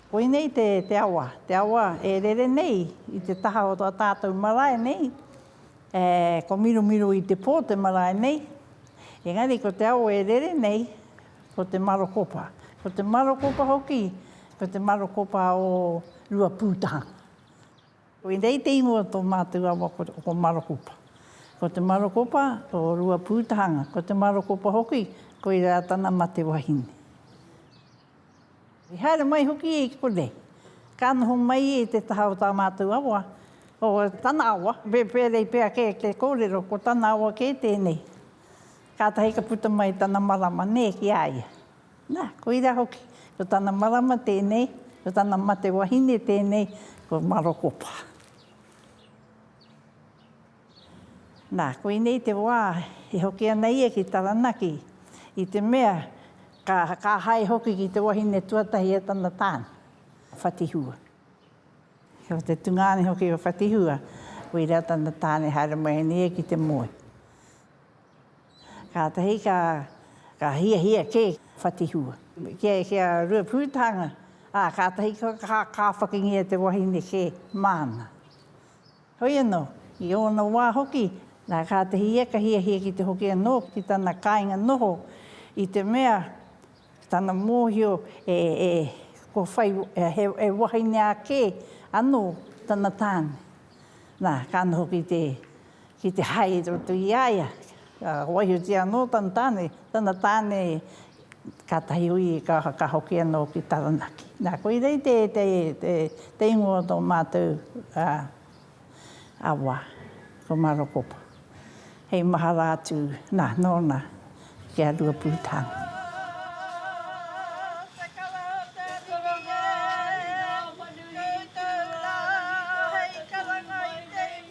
Koinei te, te awa, te awa e rere nei i te taha o tō tātou marae nei, e, ko Miromiro i te pō te marae nei, engari ko te awa e rere nei, ko te Marokopa. Ko te Marokopa hoki, ko te Marokopa o Ruapūtanga. Koinei te ingoa o tō mātou awa ko Marokopa. Ko te Marokopa, ko Ruapūtahanga, ko te Marokopa hoki, koirā tana mate wahine. I haere mai hoki ia ki konei, ka noho mai ia i te taha o tā mātou awa, o tana awa, me pēnei pea kē te kōrero, ko tana awa kē tēnei. Kātahi ka puta mai tana marama nē ki a ia. Nā, koirā hoki, ko tana marama tēnei, ko tana mate wahine tēnei, ko Marokopa. Nā, koinei te wā i hoki ana ia ki Taranaki, i te mea ka, ka hae hoki ki te wahine tuatahi a tana tāne, Whatihua. Ko te tungāne hoki o Whatihua, koirā tana tāne haere mai ana ia ki te moe. Kātahi ka hiahia kē whatihua ki a Ruapūtanga, ā, kātahi ka kāwhakangia te wahine kē māna. Hoi anō, i ōna wā hoki, nā, kātahi ia ka hiahia ki te hoki anō ki tana kāinga noho, i te mea, tana mōhio kua whai, he wahine ā kē anō tana tāne. Nā, ka noho ki te. Ki te haere i roto i a ia, ka waihotia anō tana tāne, tana tāne kātahi hui ka hoki anō ki Taranaki. Nā, koira i te, te, te, te ingoa o tō mātou awa, ko Marokopa. Hei mahara atu, nā, nōna ki a Ruapūtanga.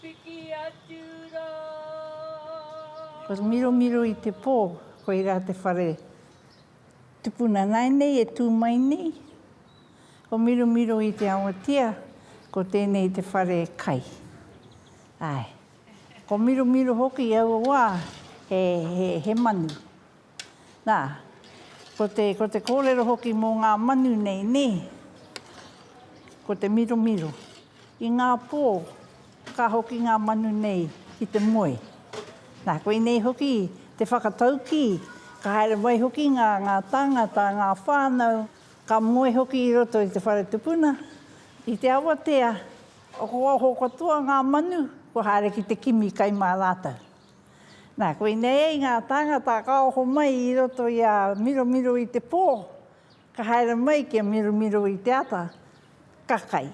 Piki atu rā. Ko Miromiro i te pō, koirā te whare tupuna nāinei e tū mai nei. Ko Miromiro i te awatea, ko tēnei te whare kai. Āe. Ko Miromiro hoki i aua wā, he manu. Nā, ko te, ko te kōrero hoki mō ngā manu nei, nē, ko te miromiro. I ngā pō, ka hoki ngā manu nei ki te moe. Nā, koinei hoki te whakataukī, ka haere mai hoki ngā, ngā tāngata, ngā whānau, ka moe hoki i roto i te whare tupuna, i te awatea, ko waho katoa ngā manu, kua haere ki te kimi kai mā rātou. Nā, koinei ngā tāngata ka oho mai i roto i a Miromiro i te pō, ka haere mai ki a Miromiro i te ata, ka kai.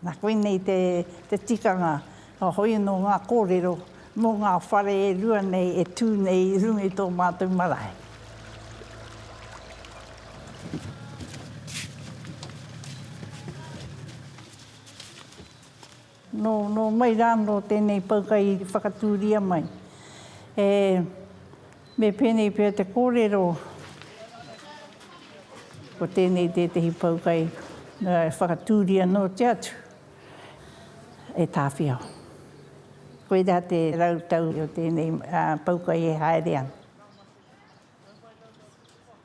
Nā, koinei te tikanga, ka hoi anō ngā kōrero mō ngā whare e rua nei e tū nei i runga i tō mātou marae. Nō, nō mai rā, nō tēnei poukai i whakatūria mai. E, me pēnei pea te kōrero, ko tēnei tētehi poukai e whakatūria noatia atu e Tāwhiao. Koirā te rautau o tēnei poukai e haere ana.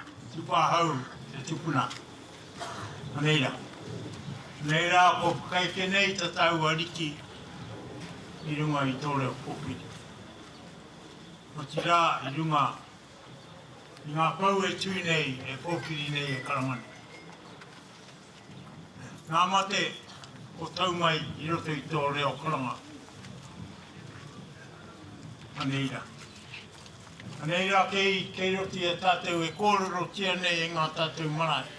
I tupu ahau te tupuna. Nō reira, nei rā kua whakaeke nei tā tāu Ariki i runga i tō reo kōwhiri, otirā i runga i ngā pou e tū nei, e kōwhiri nei, e karanga nei. Ngā mate o tau mai i roto i tō reo karanga. Anei rā. Anei rā kei, kei roto i a tātou e kōrerotia nei e ngā tātou marae.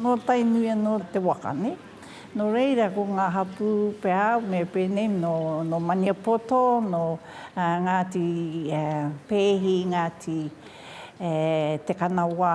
Nō Tainui anō te waka, nē? Nō reira, ko ngā hapū pea me pēnei nō, nō Maniapoto, nō Ngāti Pēhi, Ngāti Te Kanawa,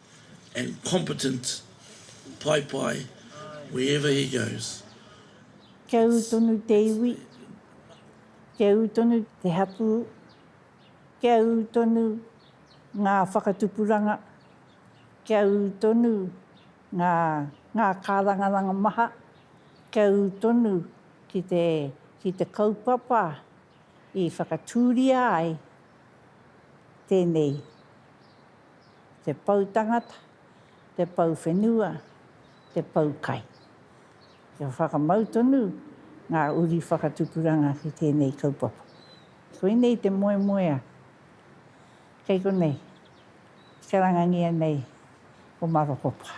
and competent paepae wherever he goes. Kia ū tonu te iwi, kia ū tonu te hapū, kia ū tonu ngā whakatupuranga, kia ū tonu ngā ngā kārangaranga maha, kia ū tonu ki te ki te kaupapa i whakatūria ai tēnei. te pou tangata, te pou whenua, te pou kai. Kia whakamau tonu ngā uri whakatupuranga ki tēnei kaupapa. Koinei te moemoea, kei konei, karangangia nei ko Marokopa.